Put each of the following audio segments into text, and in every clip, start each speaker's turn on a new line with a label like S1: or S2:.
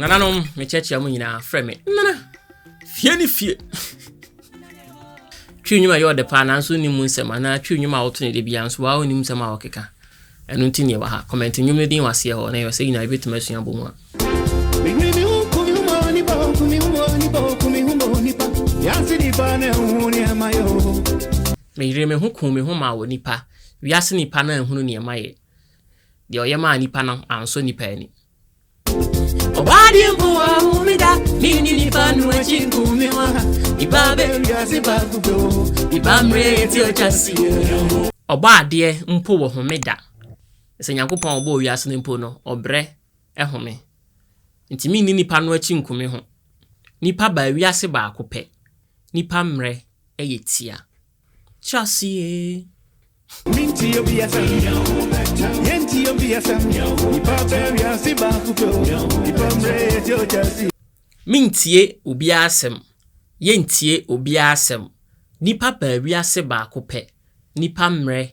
S1: nananom mekyɛkyea mu nyinaa frɛ me nana fie ne fie twi nnwuma yɛ ɔde paa nanso nim nsɛm anaa twi nnwuma a wɔto ne de bia nso waa onim nsɛm a wɔkeka ɛno nti neɛ wɔ ha kɔmɛnte nnwom no din wɔ aseɛ hɔ na ɛwɔ sɛ nyinaa yɛbɛtumi asua bɔ mu a Yansi di bane huni amayo Meyeree me ho kuu me ho maa onipa, wiase nnipa no anhunu nea mayɛ, deɛ ɔyɛ maa nnipa no ansɔ nnipa ani. Ɔbaa deɛ mpo awo me da, me ne nipa no akyi nku me wa, nipa bɛ wiase baako bɛ o, nipa mmerɛ eti ɔtwa seɛ. Ɔbɔ adeɛ mpo wɔ home da, sɛ Nyankopɔn a ɔbɔɔ wiase no mpo no ɔbrɛ home, nti me ne nipa no akyi nku me ho, nipa baa wiase baako pɛ, nipa mmerɛ yɛ tia. Kyerɛ ase ee. Minti obi FM. Yenti obi FM. Ipa beria si ba kupo. Ipa mre eti ojasi. Mentie obiara asɛm, yɛntie obiara asɛm, nnipa baa wiase baako pɛ, nnipa mmerɛ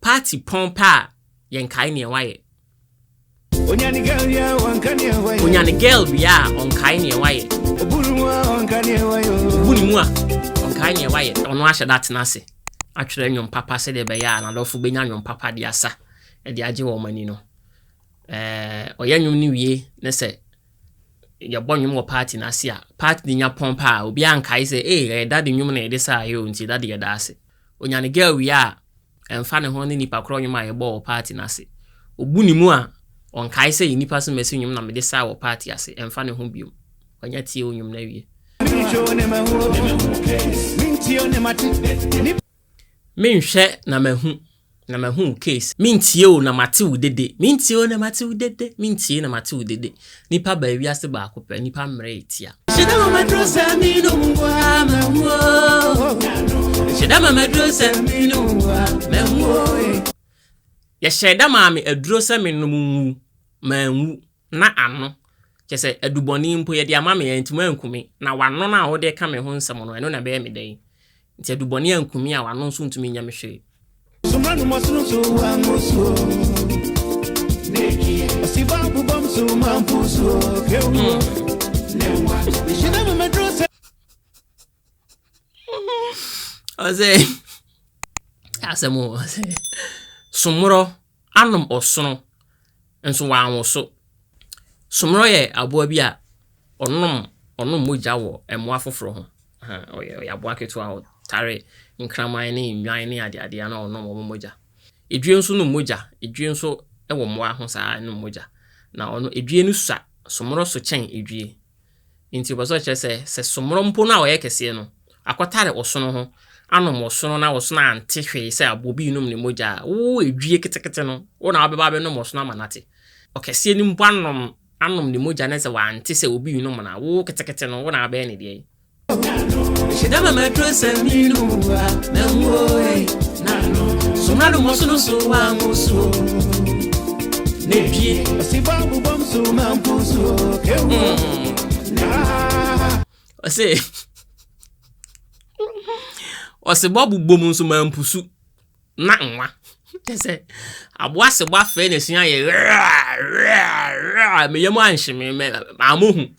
S1: Party pɔn pɛ a yɛn kae neɛ wayɛ. Onya ne girl wie a ɔnka neɛ wayɛ. Onya ne girl wie a ɔnkae neɛ wayɛ. Obu ne mu a ɔnka neɛ wayɛ. Obu ne mu a ɔnkae neɛ wayɛ. Ɔno ahyɛ da atena ase atwerɛ nnwom papa sɛdeɛ ɛbɛyɛ a n'adɔfo bɛnya nnwom papa de asa de agye wɔn ani no. Eh, ɔyɛ nnwom no wie ne sɛ yɛbɔ nnwom wɔ party no ase a party no nya pɔn paa obiara nkae sɛ ee eh, ɛyɛ dade nnwom na yɛde saa yɛ o nti dade yɛda ase. Onya ne girl wie a, ɛmfa ne ho ne nipa korɔ nnwom a yɛbɔɔ wɔ party no ase. Obu ne mu a, ɔnkae sɛ yɛ nipa so masi nnwom na mede saa wɔ party ase, ɛmfa ne ho biom. Wanya tie wo nnwom no awie. Menhwɛ na mahu. Na mahu wo case. Mentie o na mate wo dede. Mentie o na mate wo dede. Mentie na mate wo dede. Nipa baa wiase baako pɛ. Nipa mmerɛ yɛ tia. Nhyɛda ma maduro sɛ me no mu wa mahu o. Nhyɛda ma maduro sɛ me no mu wa mahu o. Yɛhyɛ da maa me aduro sɛ me nom nwu, manwu. Na ano, kyerɛ sɛ, adubɔne mpo, yɛde ama me, antumi anku me, na w'ano no a wode reka me ho nsɛm no, ɛno na ɛbɛyɛ me dɛn? Enti adubɔne anku me a, w'ano nso ntumi nyɛ me hwee. Suma no mɔ sono so wa mo so Neki Ɔsi ba bubam so ma mpu so Kewu Ne wa Nhyina mu medro sɛ ɔsɛ asɛm o ɔsɛ somorɔ anom ɔsono nso wanwo so somorɔ yɛ aboa bi a ɔnom ɔnom mogya wɔ mmoa foforɔ ho ɔyɛ ɔyɛ aboa ketewa a ɔtare nkraman ne nnwan ne adeadeɛ na ɔnom wɔn mogya edwie nso nom mogya edwie nso wɔ mmoa ho saa nom mogya na ɔno edwie no sua somorɔ so kyɛn edwie. Enti ɔpɛ sɛ ɔkyerɛ sɛ, sɛ sommorɔ mpo no a ɔyɛ kɛseɛ no, akɔtare ɔsono ho, anom ɔsono na ɔsono ante hwee sɛ aboɔ bi renom ne mogya a, wo edwie ketekete no, wo na wobɛba abɛnom ɔsono ama no ate. Ɔkɛseɛ no mpo anom anom ne mogya na sɛ wante sɛ obi renom no a, wo ketekete no, wo na wobɛyɛ no deɛn? Hyɛda ma mɛtoro sɛ menu a mɛnwo ei, Sommorɔ nom ɔsono so w'ahosuo. ɔse ɔse bɔ bobom nso ma mpusu na nwa kyɛ sɛ aboa se bɔ afɛe na ɛsua yɛ meyɛ mu anhyeme maamohu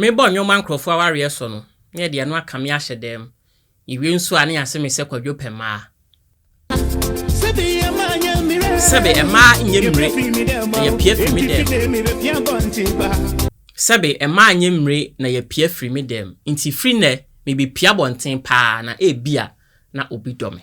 S1: Mebɔ nnwom ma nkurɔfoɔ awareɛ so no, na ɛde ɛno aka me ahyɛ dɛm. Yɛwie nso a, na yɛase me sɛ Kwadwo pɛ mmaa. Sɛbe mmaa nyɛ mmire, na yɛapia firi me dɛm. Sɛbe mmaa nyɛ mmire, na yɛapia firi me dɛm. Nti firi nnɛ, mebɛpia abɔnten paa, na ebia na obi dɔ me.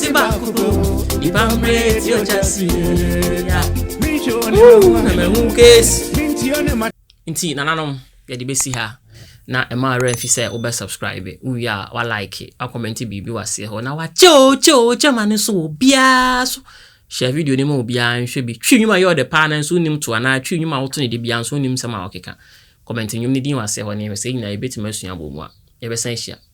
S1: ti baako po nipa mmerɛ ti ɔgya si ya na mahu keesi nti nananom yɛde bɛsi ha na ɛma awerɛ mfi sɛ wobɛ subscribe wowie a walike wakɔmmɛnte biribi waseɛ hɔ na wakyɛo kyɛo kyɛma no so wɔ biara so hyɛ video no ma obiara nhwɛ bi twi nnwuma yɛ ɔde paa no nso wonim to anaa twi nnwuma a woto no de biara nso wonim sɛm a wɔkeka kɔmmɛnte nnwom no din waseɛ hɔ ne sɛ nyinaa yɛbɛtumi asua abɔ mu a yɛbɛsan hyia